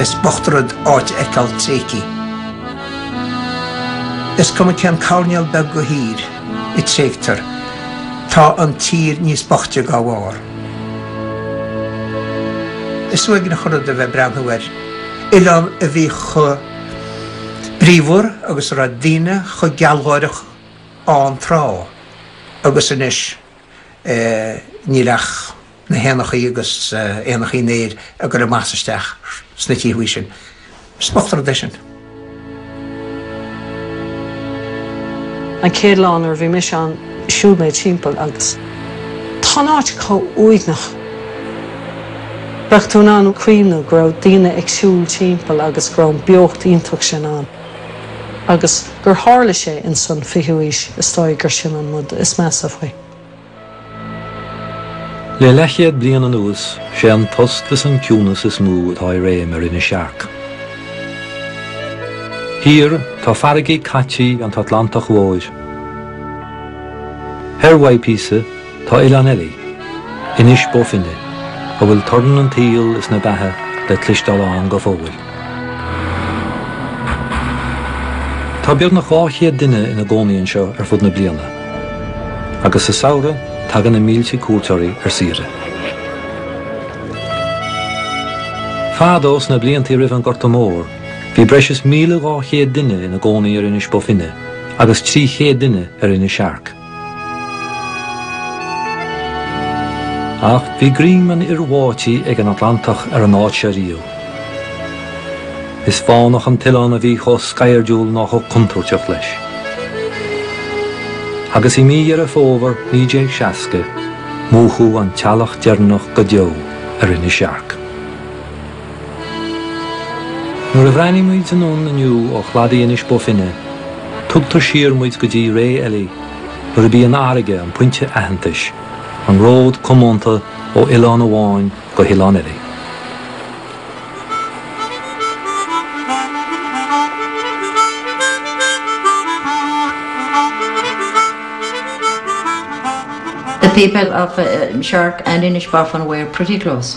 Is bocht rud áit a fheiceáil tréigthí. Is cuma cén coirnéal beag dhe thír a tréigtear, tá an tír níos boichte dá bharr. Is uaigneach an rud a bheith ag breathnú ar oileán a bhí chomh bríomhar agus a raibh daoine chomh gealgháireach ann tráth, agus anois. níl ach na héanachaí agus éanachaí an aeir ag goil amach is isteach sna tithe sin. Is bocht rud é sin. An chéad lá nuair a bhí mise ann, shiúil mé timpeall agus tá an áit chomh uaigneach. Bheadh tú in ann cuimhneamh go raibh daoine ag siúl timpeall agus go raibh an beocht iontach sin ann. agus gur tharla sé insan 20ú aois, is dóigh gur sin an rud is measa faoi. Le leathchéad bliain anuas, sé an tost is an ciúnas is mó atá i réim ar Inis Searc. Thiar, tá farraigí cáite an Atlantaigh Mhóir. Thoir uaidh píosa, Tá oileán eile, Inis Bó Finne, a bhfuil torann an tsaoil is na beatha le cloisteáil ann go fóill. Tá beagnach 200 duine ina gcónaí anseo ar fud na bliana, agus sa samhradh tagann na mílte cuairteoirí ar saoire. Fadó, sna bliantaí roimh an nGorta Mór, bhí breis is 1,200 duine ina gcónaí ar Inis Bó Finne agus 300 duine ar Inis Searc. Ach bhí greim an fhir bháití ag an Atlantach ar an áit seo riamh. Is fánach an t-oileán a bhí chomh sceirdiúil ná chomh contúirteach leis. Agus i mí Dheireadh Fómhair 1960, múchadh an teallach deireanach go deo ar Inis Searc. Nuair a bhreathnaíonn muid anonn inniú ó chladaí Inis Bó Finne, tugtar siar muid go dtí ré eile nuair ab í an fharraige an pointe aitheantais, an ród coitianta ó oileán amháin go hoileán eile. The people of Shark and Inishbofin were pretty close.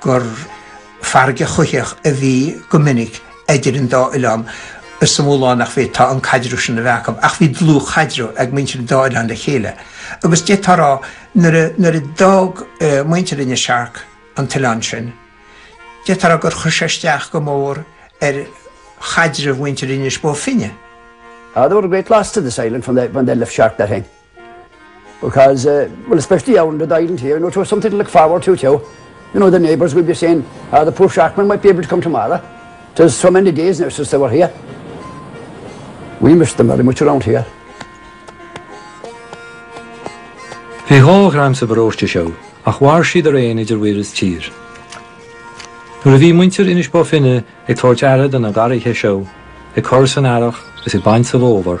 gur farraige choimhthíoch a bhí go minic idir an dá oileán. is shamhlófá nach bhféadfadh an caidreamh sin a bheith acu, ach bhí dlúthchaidreamh ag muintir an dá oileán le chéile. Agus d'fhéadfá a rá, nuair a, nuair a d'fhág muintir Inis Searc an t-oileán sin, d'fhéadfá a rá gur chuir sé isteach go mór ar chaidreamh mhuintir Inis Bó Finne. They were a great loss to this island when they, when they left Shark that thing. Because well especially out in the island here you know to something to look forward to too you know the neighbours will be saying ah the poor Sharkman might be able to come tomorrow tis so many days now since they were here. We miss them very much around here. Bhí dhá dhream sa bparóiste seo ach mhair siad araon idir mhuir is tír. Nuair a bhí muintir Inis Bó Finne ag tabhairt aire do na garraithe seo, ag cur san earrach is ag baint sa bhfómhar,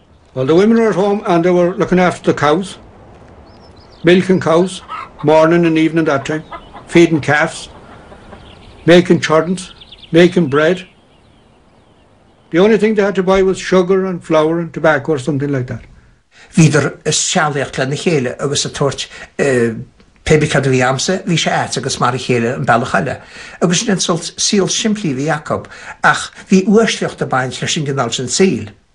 While the women were at home and they were looking after the cows, milking cows, morning and evening that time, feeding calves, making churns, making bread. The only thing they had to buy was sugar and flour and tobacco or something like that. Bhíodar ag sealaíocht lena chéile agus ag tabhairt pébí cad a bhí agamsa, bhí sé agat agus mar a chéile an bealach eile. Agus sin an sórt saol simplí a bhí acu, ach bhí uaisleacht ag baint leis an gcineál sin saoil.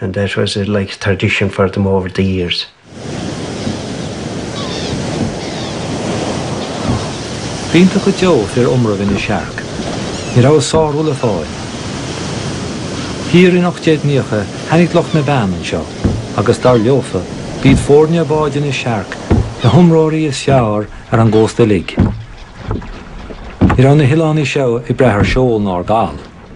and that was like a tradition for them over the years. B'iontach go deo fir iomraimh Inis Airc. Ní raibh a sárú le fáil. Thiar in ocht déag naocha tháinig lucht na bpeann anseo agus dar leofa b'iad foirne báid Inis Airc na hiomróirí is fearr ar an gcósta uilig. Ní raibh na hoileánaigh seo ag brath ar seol ná ar gal.